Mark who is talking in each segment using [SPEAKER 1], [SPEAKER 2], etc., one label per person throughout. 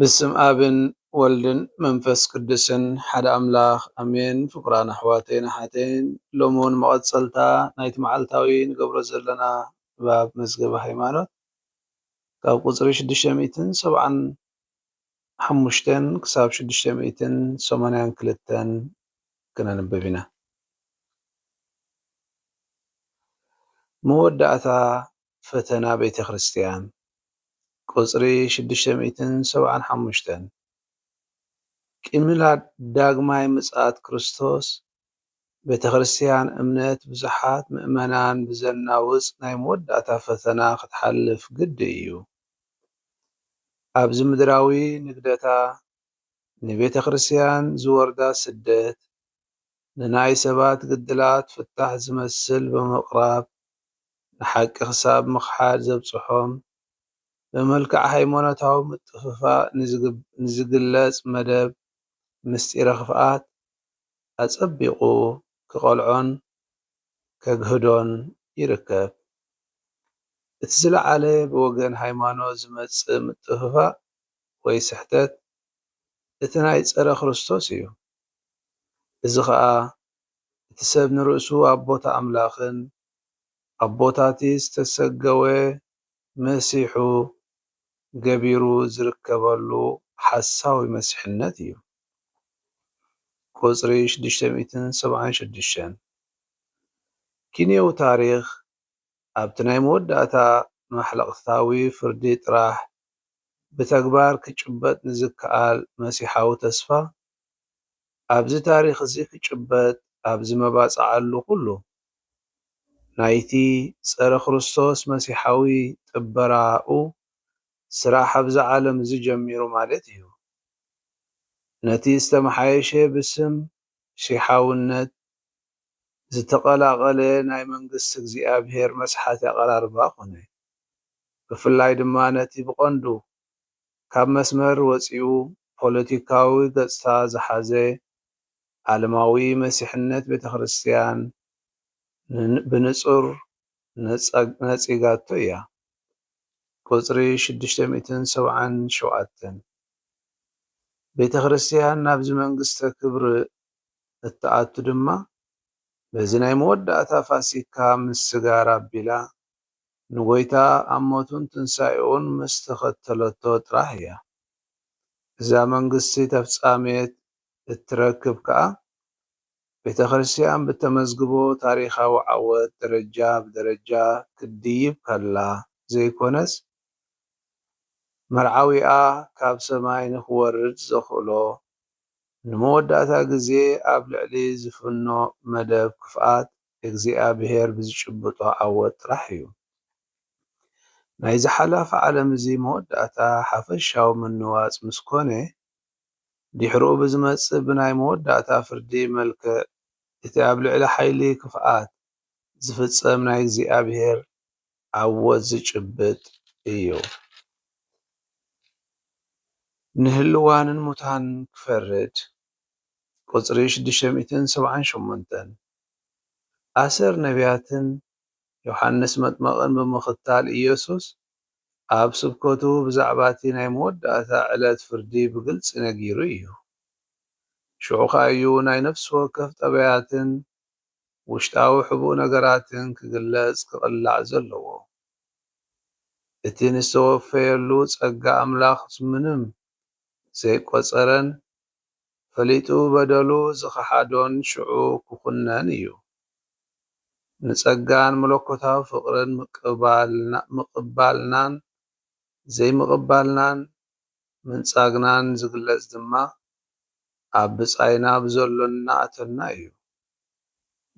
[SPEAKER 1] ብስም ኣብን ወልድን መንፈስ ቅዱስን ሓደ ኣምላኽ ኣሜን። ፍቁራን ኣሕዋተይን ኣሓተይን ሎሚ ውን መቐጸልታ ናይቲ መዓልታዊ ንገብሮ ዘለና ንባብ መዝገበ ሃይማኖት ካብ ቁጽሪ ሽዱሽተ ሚእትን ሰብዓን ሓሙሽተን ክሳብ ሽዱሽተ ሚእትን ሰማንያን ክልተን ክነንብብ ኢና። መወዳእታ ፈተና ቤተ ክርስቲያን፣ ቁጽሪ ሽዱሽተ ሚእትን ሰብዓን ሓሙሽተን፣ ቂምላድ ዳግማይ ምጽኣት ክርስቶስ ቤተክርስትያን እምነት ብዙሓት ምእመናን ብዘናውጽ ናይ መወዳእታ ፈተና ክትሓልፍ ግዲ እዩ። ኣብዚ ምድራዊ ንግደታ ንቤተክርስትያን ዝወርዳ ስደት ንናይ ሰባት ግድላት ፍታሕ ዝመስል ብምቕራብ ንሓቂ ክሳብ ምኽሓድ ዘብጽሖም ብመልክዕ ሃይማኖታዊ ምጥፍፋእ ንዝግለጽ መደብ ምስጢረ ክፍኣት ኣጸቢቑ ክቐልዖን ከግህዶን ይርከብ። እቲ ዝለዓለ ብወገን ሃይማኖት ዝመጽእ ምጥፍፋእ ወይ ስሕተት እቲ ናይ ጸረ ክርስቶስ እዩ። እዚ ኸኣ እቲ ሰብ ንርእሱ ኣብ ቦታ ኣምላኽን ኣብ ቦታቲ ዝተሰገወ መሲሑ ገቢሩ ዝርከበሉ ሓሳዊ መሲሕነት እዩ። ቁጽሪ ሽዱሽተ ሚእትን ሰብዓን ሽዱሽተን፣ ኪንዮዊ ታሪኽ ኣብቲ ናይ መወዳእታ ማሕለቕታዊ ፍርዲ ጥራሕ ብተግባር ክጭበጥ ንዝከኣል መሲሓዊ ተስፋ፣ ኣብዚ ታሪኽ'ዚ ክጭበጥ ኣብ ዝመባጽዓሉ ኩሉ ናይቲ ጸረ-ክርስቶስ መሲሓዊ ጥበራኡ ስራሕ ኣብዛ ዓለም እዚ ጀሚሩ ማለት እዩ። ነቲ ዝተመሓየሸ ብስም ሺሓውነት ዝተቐላቐለ ናይ መንግስቲ እግዚኣብሄር መስሓቲ ኣቐራርባ ኮነ። ብፍላይ ድማ ነቲ ብቐንዱ ካብ መስመር ወጺኡ ፖለቲካዊ ገጽታ ዝሓዘ ዓለማዊ መሲሕነት ቤተክርስትያን ብንጹር ነጺጋቶ እያ፣ ቍጽሪ ሽዱሽተ ሚእትን ሰብዓን ሸውዓተን። ቤተክርስትያን ናብዚ መንግስተ ክብሪ እትኣቱ ድማ በዚ ናይ መወዳእታ ፋሲካ ምስ ስጋር ኣቢላ ንጐይታ ኣብ ሞቱን ትንሳኤኡን ምስ ተኸተለቶ ጥራሕ እያ። እዛ መንግስቲ ተፍጻሜት እትረክብ ከኣ ቤተክርስትያን ብተመዝግቦ ታሪኻዊ ዓወት ደረጃ ብደረጃ ክትድይብ ከላ ዘይኮነስ መርዓዊኣ ካብ ሰማይ ንክወርድ ዘኽእሎ ንመወዳእታ ግዜ ኣብ ልዕሊ ዝፍኖ መደብ ክፍኣት እግዚኣብሔር ብዝጭብጦ ዓወት ጥራሕ እዩ። ናይዚ ሓላፊ ዓለም እዚ መወዳእታ ሓፈሻዊ ምንዋጽ ምስ ኮነ፣ ድሕርኡ ብዝመጽእ ብናይ መወዳእታ ፍርዲ መልክዕ እቲ ኣብ ልዕሊ ሓይሊ ክፍኣት ዝፍጸም ናይ እግዚኣብሔር ዓወት ዝጭብጥ እዩ። ንህልዋንን ሙታንን ክፈርድ ቁጽሪ ሽዱሽተ ሚእትን ሰብዓን ሸሞንተን ኣሰር ነብያትን ዮሓንስ መጥመቕን ብምኽታል ኢየሱስ ኣብ ስብከቱ ብዛዕባ እቲ ናይ መወዳእታ ዕለት ፍርዲ ብግልጺ ነጊሩ ኢዩ። ሽዑ ኸኣ ኢዩ ናይ ነፍሲ ወከፍ ጠባያትን ውሽጣዊ ሕቡእ ነገራትን ክግለጽ ክቕላዕ ዘለዎ። እቲ ንዝተወፈየሉ ጸጋ ኣምላኽ ምንም ዘይቈጸረን ፈሊጡ በደሉ ዝኸሓዶን ሽዑ ክኹነን እዩ። ንጸጋን መለኮታዊ ፍቕርን ምቕባልናን ዘይምቕባልናን ምንጻግናን ዝግለጽ ድማ ኣብ ብጻይና ብዘሎና ኣተና እዩ።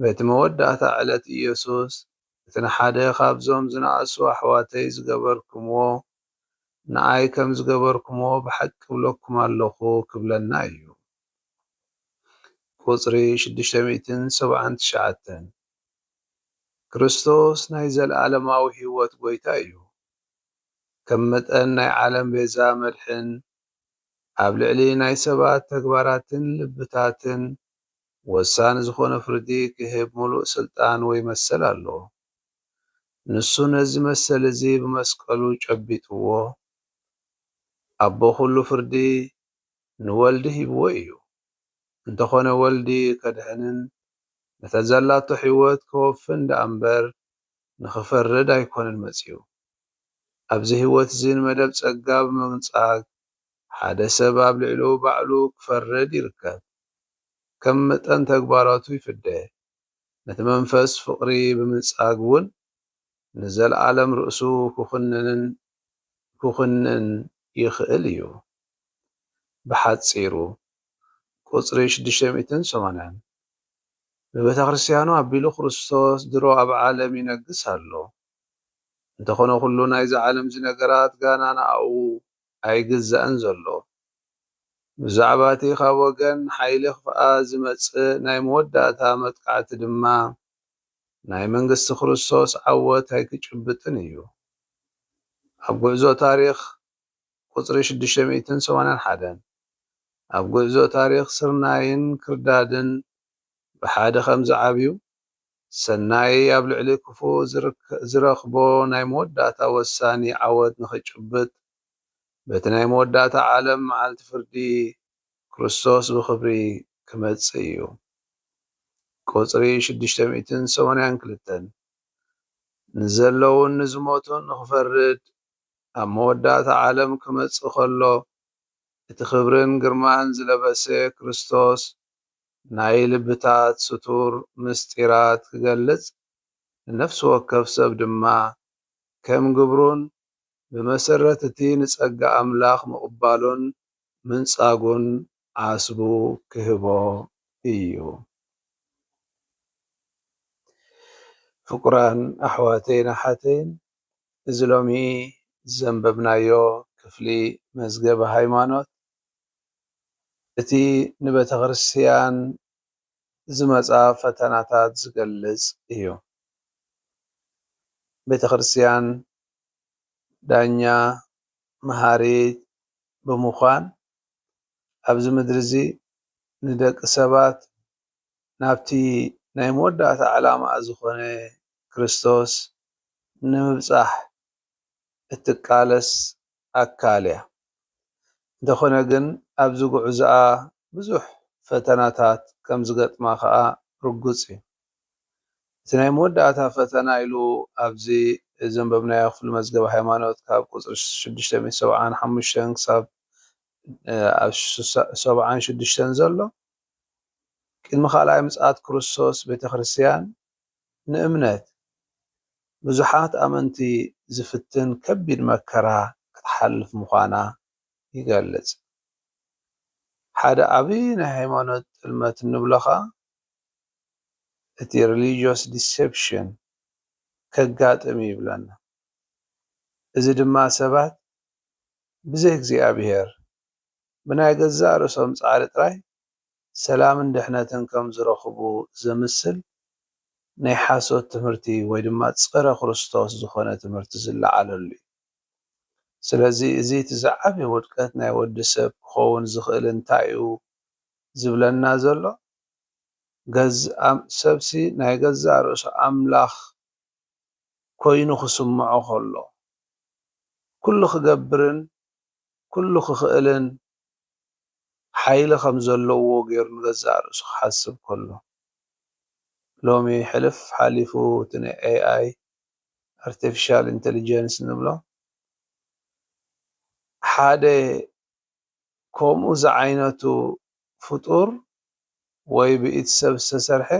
[SPEAKER 1] በቲ መወዳእታ ዕለት ኢየሱስ እቲ ንሓደ ኻብዞም ዝነኣሱ ኣሕዋተይ ዝገበርክምዎ ንኣይ ከም ዝገበርኩሞ ብሓቂ እብለኩም ኣሎኹ ክብለና እዩ። ቁጽሪ ሽዱሽተ ሚእትን ሰብዓን ትሽዓተን። ክርስቶስ ናይ ዘለኣለማዊ ህይወት ጎይታ እዩ። ከም መጠን ናይ ዓለም ቤዛ መድሕን ኣብ ልዕሊ ናይ ሰባት ተግባራትን ልብታትን ወሳኒ ዝኾነ ፍርዲ ክህብ ምሉእ ስልጣን ወይ መሰል ኣሎዎ። ንሱ ነዚ መሰል እዚ ብመስቀሉ ጨቢጥዎ፣ ኣቦ ኵሉ ፍርዲ ንወልዲ ሂብዎ ኢዩ። እንተዀነ ወልዲ ከድሕንን ነታ ዘላቶ ሕይወት ከወፍን ደኣ እምበር ንኽፈርድ ኣይኰነን መጺኡ። ኣብዚ ሕይወት እዚ ንመደብ ጸጋ ብምንጻግ ሓደ ሰብ ኣብ ልዕሉ ባዕሉ ክፈርድ ይርከብ። ከም መጠን ተግባራቱ ይፍደ። ነቲ መንፈስ ፍቕሪ ብምንጻግ ውን ንዘልኣለም ርእሱ ክኹንንን ክኹንን ይኽእል እዩ። ብሓጺሩ ቁጽሪ ሽዱሽተ ሚእትን ሰማንያን ብቤተክርስትያኑ ኣቢሉ ክርስቶስ ድሮ ኣብ ዓለም ይነግስ ኣሎ። እንተኾነ ኩሉ ናይዛ ዓለምዚ ነገራት ጋና ንኣኡ ኣይግዛእን ዘሎ። ብዛዕባ'ቲ ካብ ወገን ሓይሊ ክፍኣ ዝመጽእ ናይ መወዳእታ መጥቃዕቲ ድማ፣ ናይ መንግስቲ ክርስቶስ ዓወት ኣይክጭብጥን እዩ። ኣብ ጉዕዞ ታሪኽ ቁጽሪ ሽዱሽተ ሚእትን ሰማንያን ሓደን፣ ኣብ ጉዕዞ ታሪኽ ስርናይን ክርዳድን ብሓደ ከም ዝዓብዩ፣ ሰናይ ኣብ ልዕሊ ክፉእ ዝረኽቦ ናይ መወዳእታ ወሳኒ ዓወት ንኽጭብጥ፣ በቲ ናይ መወዳእታ ዓለም መዓልቲ ፍርዲ፣ ክርስቶስ ብኽብሪ ክመጽእ እዩ። ቁጽሪ ሽዱሽተ ሚእትን ሰማንያን ክልተን፣ ንዘለዉን ንዝሞቱን ንኽፈርድ ኣብ መወዳእታ ዓለም ክመጽእ ከሎ፣ እቲ ክብርን ግርማን ዝለበሰ ክርስቶስ ናይ ልብታት ስቱር ምስጢራት ክገልጽ፣ ንነፍሲ ወከፍ ሰብ ድማ ከም ግብሩን ብመሰረት እቲ ንጸጋ ኣምላኽ ምቕባሉን ምንጻጉን ዓስቡ ክህቦ እዩ። ፍቁራን ኣሕዋተይን ኣሓተይን፣ እዚ ሎሚ ዘንበብናዮ ክፍሊ መዝገበ ሃይማኖት እቲ ንቤተክርስትያን ዝመጻ ፈተናታት ዝገልጽ እዩ። ቤተክርስትያን ዳኛ መሃሪት ብምኳን ኣብዚ ምድሪ እዚ ንደቂ ሰባት ናብቲ ናይ መወዳእታ ዕላማኣ ዝኮነ ክርስቶስ ንምብጻሕ እትቃለስ ኣካል እያ። እንተኾነ ግን ኣብዚ ጉዕዞኣ ብዙሕ ፈተናታት ከም ዝገጥማ ከኣ ርጉጽ እዩ። እቲ ናይ መወዳእታ ፈተና ኢሉ ኣብዚ ዘንበብናዮ ክፍሊ መዝገበ ሃይማኖት ካብ ቁጽሪ ሽዱሽተ ሚእቲ ሰብዓን ሓሙሽተን ክሳብ ሰብዓን ሽዱሽተን ዘሎ ቅድሚ ካልኣይ ምጽኣት ክርስቶስ ቤተክርስትያን ንእምነት ብዙሓት ኣመንቲ ዝፍትን ከቢድ መከራ ክትሓልፍ ምዃና ይገልጽ። ሓደ ዓቢ ናይ ሃይማኖት ጥልመት እንብሎ ከኣ እቲ Religious Deception ከጋጥም እዩ ይብለና። እዚ ድማ ሰባት ብዘይ እግዚኣብሄር ብናይ ገዛእ ርእሶም ጻዕሪ ጥራይ ሰላምን ድሕነትን ከም ዝረኽቡ ዘምስል ናይ ሓሶት ትምህርቲ ወይ ድማ ጸረ ክርስቶስ ዝኾነ ትምህርቲ ዝለዓለሉ እዩ። ስለዚ እዚ እቲ ዝዓበየ ውድቀት ናይ ወዲ ሰብ ክኸውን ዝኽእል እንታይ እዩ ዝብለና ዘሎ? ሰብሲ ናይ ገዛእ ርእሱ ኣምላኽ ኮይኑ ክስምዖ ከሎ፣ ኩሉ ክገብርን ኩሉ ክኽእልን ሓይሊ ከም ዘለዎ ገይሩ ንገዛእ ርእሱ ክሓስብ ከሎ፣ ሎሚ ሕልፍ ሓሊፉ እቲ ናይ AI፣ ኣርተፊሻል ኢንተሊጀንስ፣ እንብሎ ሓደ ከምኡ ዝዓይነቱ ፍጡር ወይ ብኢድ ሰብ ዝተሰርሐ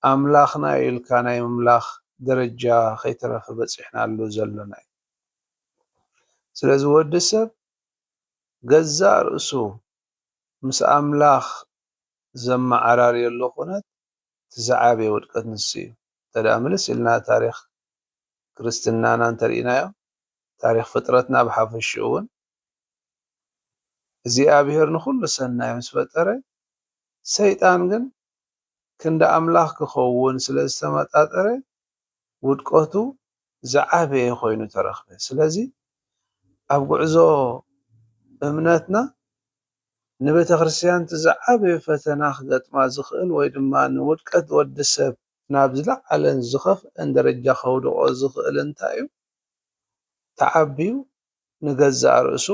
[SPEAKER 1] ኣምላኽና እዩ ኢልካ ናይ ምምላኽ ደረጃ ከይተረፈ በጺሕናሉ ዘሎና እዩ። ስለዚ ወዲ ሰብ ገዛእ ርእሱ ምስ ኣምላኽ ዘመዓራርየሉ ኩነት እቲ ዝዓበየ ውድቀት ንሱ እዩ። እንተደኣ ምልስ ኢልና ታሪኽ ክርስትናና እንተርኢናዮ ታሪኽ ፍጥረትና ብሓፈሽኡ ውን እግዚኣብሔር ንኹሉ ሰናይ ምስ ፈጠረ ሰይጣን ግን ክንዲ ኣምላኽ ክኸውን ስለ ዝተመጣጠረ ውድቀቱ ዝዓበየ ኮይኑ ተረኽበ። ስለዚ ኣብ ጉዕዞ እምነትና ንቤተክርስትያን'ቲ ዝዓበየ ፈተና ክገጥማ ዝኽእል ወይ ድማ ንውድቀት ወዲ ሰብ ናብ ዝለዓለን ዝኸፍኣን ደረጃ ከውድቖ ዝኽእል እንታይ'ዩ? ተዓብዩ ንገዛእ ርእሱ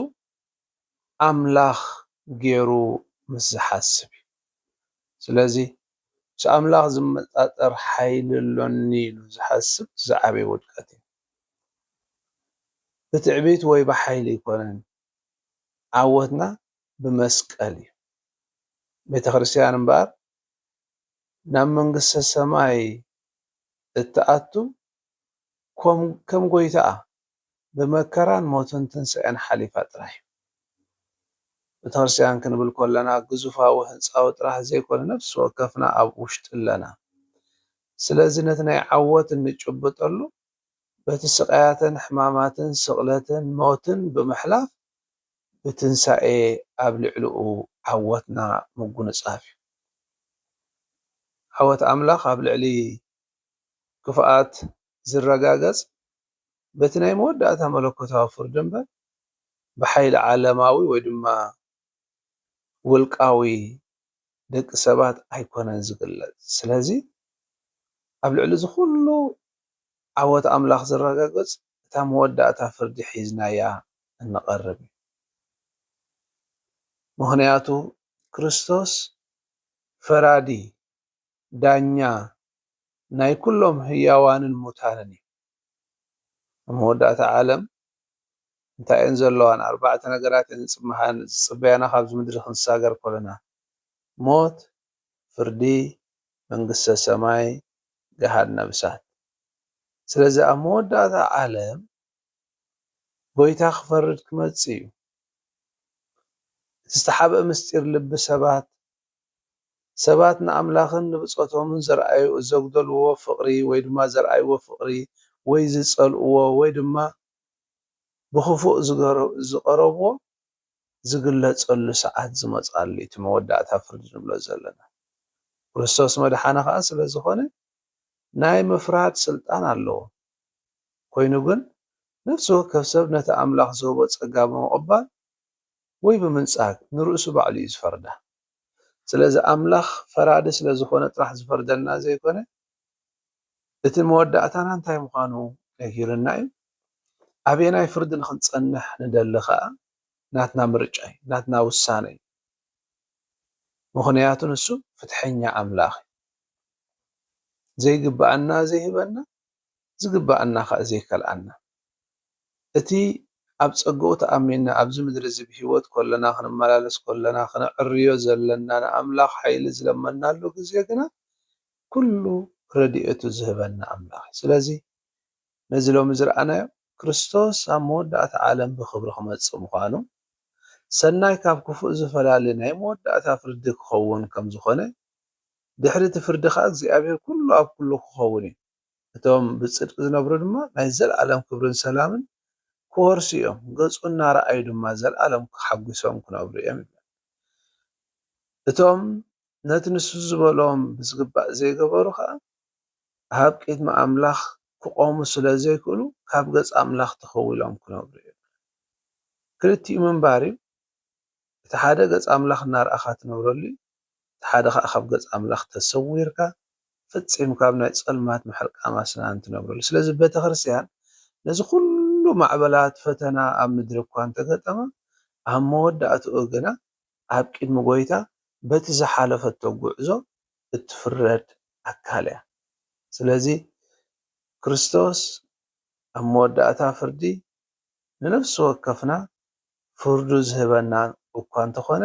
[SPEAKER 1] ኣምላኽ ጌሩ ምስ ዝሓስብ እዩ። ስለዚ ምስ ኣምላኽ ዝመጣጠር ሓይሊ ኣሎኒ ኢሉ ዝሓስብ ዝዓበየ ውድቀት እዩ። ብትዕቢት ወይ ብሓይሊ ኣይኮነን፣ ዓወትና ብመስቀል እዩ። ቤተ ክርስቲያን እምበኣር ናብ መንግስተ ሰማይ እትኣቱን ከም ጎይታኣ ብመከራን ሞትን ትንሳኤን ሓሊፋ ጥራሕ እዩ። ቤተክርስትያን ክንብል ከለና ግዙፋዊ ህንጻዊ ጥራሕ ዘይኮነ ነፍሲ ወከፍና ኣብ ውሽጢ ኣለና። ስለዚ ነቲ ናይ ዓወት እንጭብጠሉ በቲ ስቃያትን ሕማማትን ስቅለትን ሞትን ብምሕላፍ ብትንሳኤ ኣብ ልዕልኡ ዓወትና ምጉንጻፍ እዩ። ዓወት ኣምላኽ ኣብ ልዕሊ ክፍኣት ዝረጋገጽ በቲ ናይ መወዳእታ መለኮታዊ ፍርዲ እምበር ብሓይሊ ዓለማዊ ወይ ድማ ውልቃዊ ደቂ ሰባት ኣይኮነን ዝግለጽ። ስለዚ ኣብ ልዕሊ እዚ ኩሉ ዓወት ኣምላኽ ዝረጋገጽ እታ መወዳእታ ፍርዲ ሒዝናያ እንቐርብ እዩ። ምኽንያቱ ክርስቶስ ፈራዲ ዳኛ ናይ ኩሎም ህያዋንን ሙታንን እዩ። ኣብ መወዳእታ ዓለም እንታይ እየን ዘለዋ? ንኣርባዕተ ነገራት እየን ዝጽመሓን ዝጽበያና ካብዚ ምድሪ ክንሳገር ከሎና፣ ሞት፣ ፍርዲ፣ መንግስተ ሰማይ፣ ገሃነብ እሳት። ስለዚ ኣብ መወዳእታ ዓለም ጎይታ ክፈርድ ክመጽእ እዩ። እቲ ዝተሓብእ ምስጢር ልቢ ሰባት ሰባት ንኣምላኽን ንብጾቶምን ዘርኣዩ ዘጉደልዎ ፍቕሪ ወይ ድማ ዘርኣይዎ ፍቕሪ ወይ ዝጸልእዎ ወይ ድማ ብኽፉእ ዝቐረብዎ ዝግለጸሉ ሰዓት ዝመጽኣሉ እዩ እቲ መወዳእታ ፍርዲ ንብሎ ዘለና ክርስቶስ መድሓኒ ከኣ ስለ ዝኾነ ናይ ምፍራድ ስልጣን ኣለዎ ኮይኑ ግን ነፍሲ ወከፍ ሰብ ነቲ ኣምላኽ ዝህቦ ጸጋ ብምቕባል ወይ ብምንጻግ ንርእሱ ባዕሉ እዩ ዝፈርዳ። ስለዚ ኣምላኽ ፈራዲ ስለ ዝኾነ ጥራሕ ዝፈርደና ዘይኮነ እቲ መወዳእታና እንታይ ምዃኑ ነጊሩና እዩ። ኣበየናይ ፍርዲ ንኽንጸንሕ ንደሊ ከኣ ናትና ምርጫ እዩ፣ ናትና ውሳነ እዩ። ምኽንያቱ ንሱ ፍትሐኛ ኣምላኽ እዩ። ዘይግብኣና ዘይህበና ዝግብኣና ኸእ ዘይከልኣና። እቲ ኣብ ጸጋኡ ተኣሚንና ኣብዚ ምድሪ እዚ ብህይወት ከሎና ክንመላለስ ከሎና ክነዕርዮ ዘለና ንኣምላኽ ሓይሊ ዝለመንናሉ ግዜ ግና ኩሉ ረድኤቱ ዝህበና ኣምላኽ እዩ። ስለዚ ነዚ ሎሚ ዝረኣናዮ ክርስቶስ ኣብ መወዳእታ ዓለም ብኽብሪ ክመጽእ ምዃኑ ሰናይ ካብ ክፉእ ዝፈላሊ ናይ መወዳእታ ፍርዲ ክኸውን ከም ዝኾነ ድሕሪ እቲ ፍርዲ ኸኣ እግዚኣብሄር ኵሉ ኣብ ኵሉ ኪኸውን እዩ፣ እቶም ብጽድቂ ዚነብሩ ድማ ናይ ዘለኣለም ክብርን ሰላምን ኪወርሱ እዮም፣ ገጹ እናረኣዩ ድማ ዘለኣለም ተሓጒሶም ኪነብሩ እዮም ይብል። እቶም ነቲ ንሱ ዝበሎም ብዚግባእ ዘይገበሩ ኸኣ ኣብ ቅድሚ ኣምላኽ ኪቖሙ ስለ ዘይክእሉ ካብ ገጽ ኣምላኽ ተኸዊሎም ኪነብሩ እዮም ይብል። ክልቲኡ ምንባር እዩ። እቲ ሓደ ገጽ ኣምላኽ እናርኣኻ ትነብረሉ እዩ፣ እቲ ሓደ ኸኣ ካብ ገጽ ኣምላኽ ተሰዊርካ ፈጺምካ ኣብ ናይ ጸልማት ምሕርቃም ኣስናን ትነብረሉ። ስለዚ ቤተክርስትያን ነዚ ኹሉ ማዕበላት ፈተና ኣብ ምድሪ እኳ እንተገጠማ ኣብ መወዳእትኡ ግና ኣብ ቅድሚ ጎይታ በቲ ዝሓለፈቶ ጉዕዞ እትፍረድ ኣካል እያ። ስለዚ ክርስቶስ ኣብ መወዳእታ ፍርዲ ንነፍሲ ወከፍና ፍርዱ ዝህበና እኳ እንተኾነ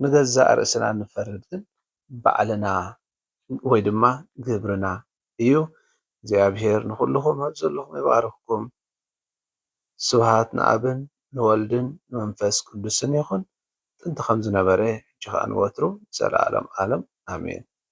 [SPEAKER 1] ንገዛእ ርእስና እንፈርድ ግን ባዕልና ወይ ድማ ግብርና እዩ። እግዚኣብሄር ንኹልኹም ኣብ ዘለኹም ይባርኽኩም። ስብሃት ንኣብን ንወልድን ንመንፈስ ቅዱስን ይኹን ጥንቲ ከም ዝነበረ ሕጂ ከኣ ንወትሩ ንዘለኣለም ኣለም ኣሜን።